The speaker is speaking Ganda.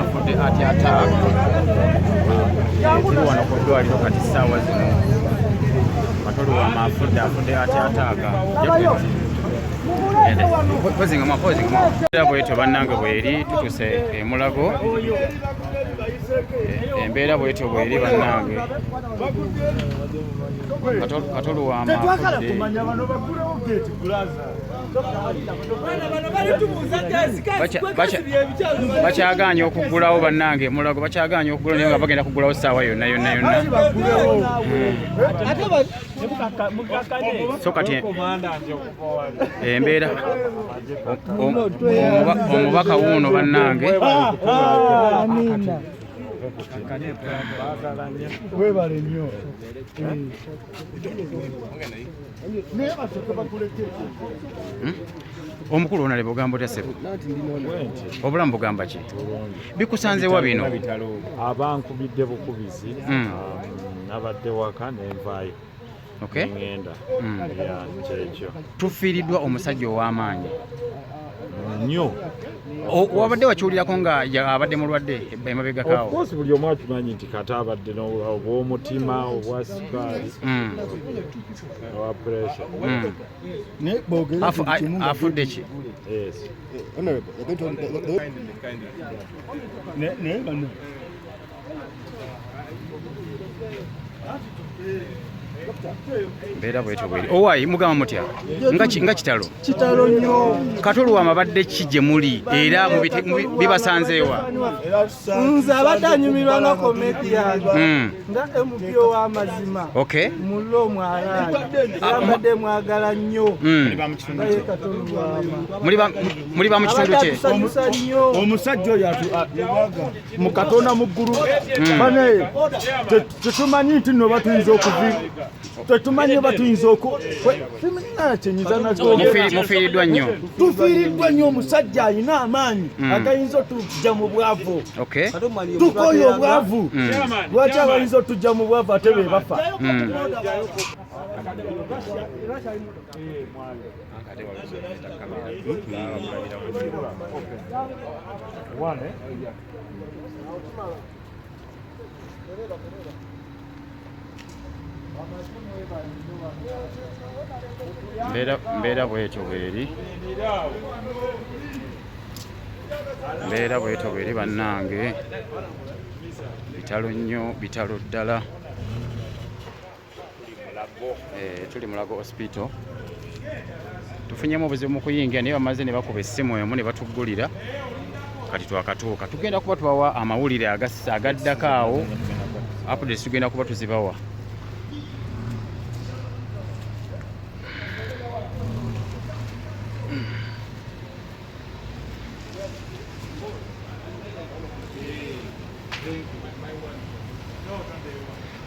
afudde ati ataaka tuli wano ku ddwaliro kati saawa zino matoli wama afudde afudde ati ataaka bwetyo bannange bweri tutuse emulago embeera bwetyo bweri bannange tetwagala kumanya bano bagulewo geti bulaza bakyaganya okugulawo bannange mulago bakyaganya okugula naye nga bagenda kugulawo saawa yonna yonna yonna so kati embeera omubaka wuuno bannange webale nnyo omukulu onale bugambo tya sebo obulamu bugamba ki bikusanzewa bino abankubidde bukubizi hmm. um, nabadde waka nenvaayo ngenda mm. kyekyo tufiiriddwa omusajja ow'amaanyi nnyo wabadde wakiwulirako nga abadde mulwadde emabegakaawo course buli omu akimanyi nti kata abadde obwomutima obwa sukaali mm. owa pressure mm. afudde ki mbeera bwetyo bweri owayi oh, mugamba mutya nga kitalo kitalo nnyo kati oluwama badde ki gye muli era bibasanzeewa nze abadde anyumirwa nga comedian hmm. nga emupyo w'amazima mulo omwalaala ah, era mbadde mwagala nnyo hmm. naye kati oluwama muli ba mu kitundu kye omusajja oyo mu katonda mu ggulu hmm. banaye tetumanyi nti no batuyinza okuvi tetumanyi batuyinza okukyenyizanamufiiriddwa nnyo tufiiriddwa nnyo omusajja alina amaanyi hmm. agayinza otujja mu bwavu tukoye obwavu hmm. lwaki abayinza otujja mu bwavu ate be bafa mbeera bwetyo bweri mbeera bwetyo bweri bannange bitalo nnyo bitalo ddala Eh, tuli mulago hospital tufunyemu obuzibu mu kuyingira naye bamaze ne bakuba essimu emu ne batuggulira kati twakatuuka tugenda kuba tubawa amawulire agaddako awo updates tugenda kuba tuzibawa